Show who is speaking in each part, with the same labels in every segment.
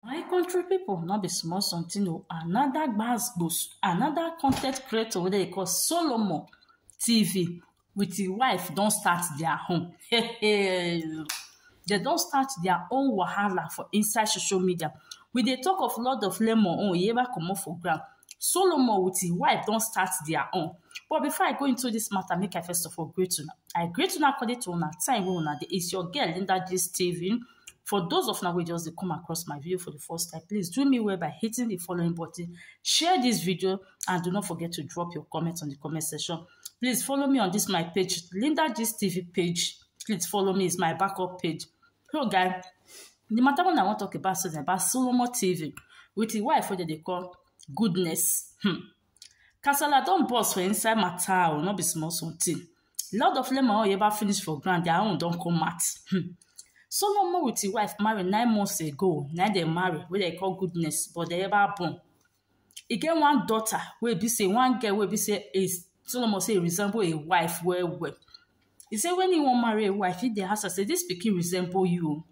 Speaker 1: My country people no be small something o. Another gbas gbos, another content creator wey dey call Solomon TV with his wife don start their own. Hey, hey. They don start their own wahala for inside social media. We dey talk of Lord of Lemon own, e ever comot for ground. Solomon with his wife don start their own. But before I go into this matter, make I first of all greet una. I greet una according to una time wey una dey. It's your girl Linda Gist TV. For those of una wey just dey come across my video for the first time, please do me well by hitting the following button, share this video and do not forget to drop your comments on the comment section. Please follow me on this my page, Linda Gist TV page. Please follow me, it's my backup page. So guys, the matter one I wan talk about today na about Solomon TV with him wife wey dem dey call Goodness. Hmm. Kasala don burst for inside matter oh, no be small something. Lord of Lemon Oyeba finish for ground, their own don come out. Hmm. Solomon with his wife marry nine months ago, na dem marry, wey dem call goodness, but dem ever born. E get one daughter wey be say one girl wey be say is Solomon say e resemble a wife well well. He say when he wan marry a wife, he dey ask her say this pikin resemble you o.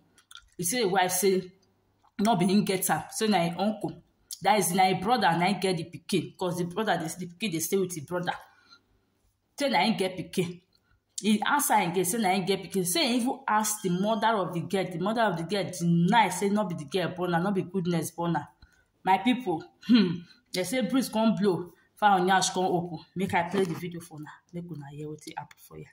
Speaker 1: He say a wife say no be him get am say na him uncle that is na him brother na him get the pikin because the brother dey the pikin dey stay with him brother say na him get pikin he answer him girl say na him get pikin say he even ask the mother of the girl the mother of the girl deny say no be the girl born am no be goodness born am my people hmm they say breeze come blow fowl yansh come open make i play the video for una make una hear wetin happen for here.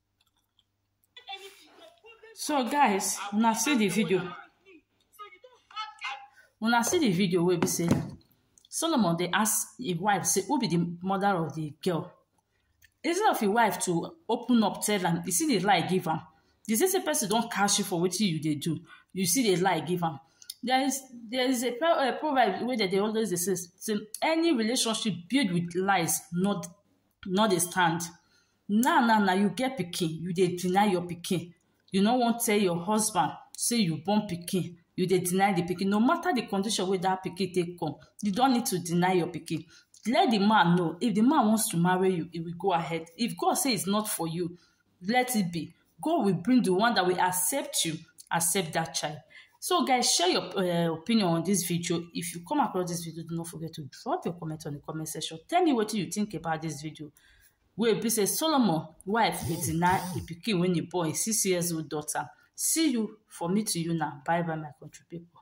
Speaker 1: So guys, una see the video. Una see the video wey be say Solomon dey ask him wife say who be the mother of the girl. Instead of him wife to open up tell am, you see the lie give am. The same same person don catch you for wetin you dey do. You see the lie give am. There is there is a, pro, a proverb wey dem dey always dey say, say any relationship built with lies not not dey stand. now now na you get pikin you dey deny your pikin you no wan tell your husband say you born pikin you dey deny the pikin no matter the condition wey that pikin take come you don need to deny your pikin let the man know if the man wants to marry you he will go ahead if God say it's not for you let it be God will bring the one that will accept you accept that child so guys share your uh, opinion on this video if you come across this video do not forget to drop your comment on the comment section tell me what you think about this video wey e be sey Solomon wife be the na e pikin wey e born, e six years old daughter. See you for me to you na. Bye bye my country people.